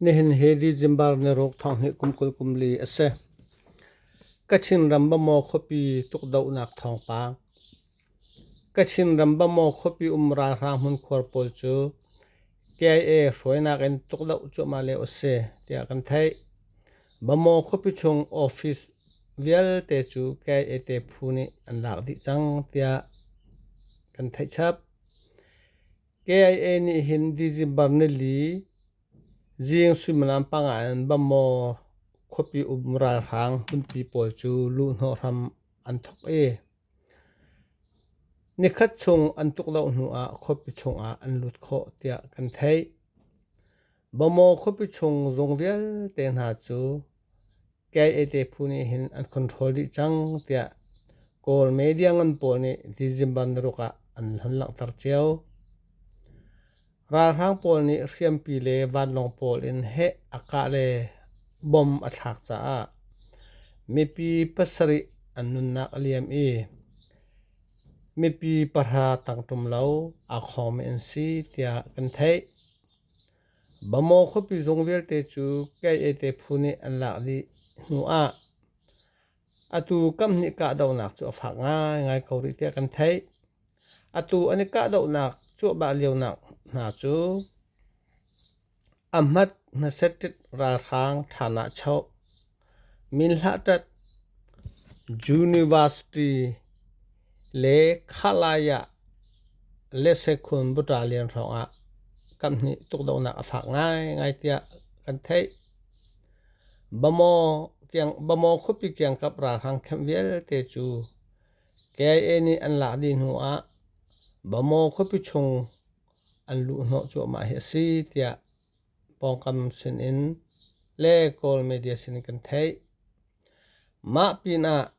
Nihin hi December ni ruk thonghnih kum kul kum li a si. Kachin ram Bamaw khuapi tukdohnak thawngpang. Kachin ram Bamaw khuapi um ralhrang hmunkhuar pawl cu KIA hruainak in tukdoh cuahmah lio a si tiah kan theih. Bamaw khuapi chung office vialte cu KIA te phu nih an lak dih cang tiah kan theih chap. KIA nih hin December nili zing suimilam panga in Bammaw khuapi um ralhrang hmunpi pawl cu luhhnawh hram an thawk i nikhat chung an tuk loh hnu ah khuapi chungah an lut khawh tiah kan theih. Bamaw khuapi chung zung vialte hna cu KAT phu nih hin an control dih cang tiah Kawl media ngan pawl nih December naruk ah an hun langhter cio. Ralhrang pawl nih hriampi le vanlawng pawl in heh a kah le bom a thlak caah mipi pasarih an nunnak a liam i mipi pahra tangṭum lo aa khawngmi an si tiah kan theih. Bamaw khuapi zung vialte cu Kayete phu nih an lak dih hnu ah atu kamhnih kahdohnak cu a fak ngaingai ko rih tiah kan theih. Atu an i kahdohnak cuahbah lionak hna cu Ahmat hnaset ralhrang Thana Cho Min hlahṭat University le Khalaya Lesekhun Buṭalian hrawngah kan hnih tukdohnak a fak ngaingai tiah kan theih. Bamaw, kiang, Bamaw khuapi kiangkap ralhrang camp vialte cu KIA nih an lak dih hnu ah Bamaw khuapi chung an luh hnawh cuahmah hi a si tiah pawngkam sinin le Kawl media sinin kan theih. Mah pinah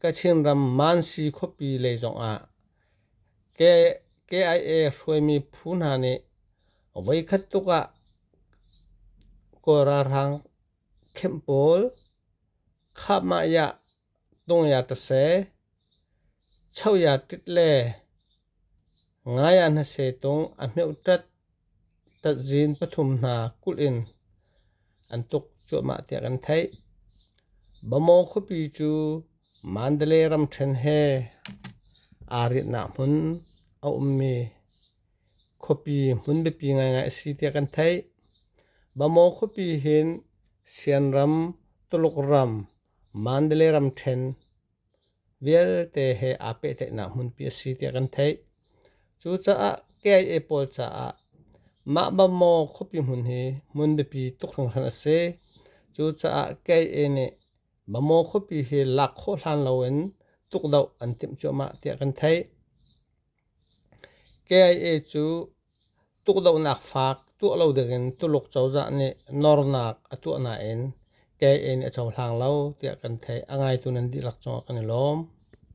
Kachin ram Mansi khuapi lei zongah KIA hruaimi phu hna nih voikhat tluk ah Kawl ralhrang khenh pawl Khahmah-yah Hnongyat a se, choyattit le ngaya hnase tung a hmeuhtat tatzin pathum hna kulh in an tuk cuahmah tiah kan theih. Bamaw khuapi cu Mandalay ramṭhen he aa riatnak hmun a ummi khuapi hmun biapi ngaingai a si tiah kan theih. Bamaw khuapi hin Sianram, Tuluk ram, Mandalay ramṭhen vialte he aa pehtlaihnak hmunpi a si tiah kan theih. Cucaah KIA pawl caah mah Bammaw khuapi hmun hi hmun biapi tuk hringhran a si. Cucaah KIA nih Bammaw khuapi hi lak khawh hlan loin tukdoh an timh cuahmah tiah kan theih. KIA cu tukdohnak faak tuah lo dingin Tuluk cozah nih nawrnak a tuah nain KIA nih a cohlang lo tiah kan theih. A ngaitu nan dihlak cungah kan i lawm.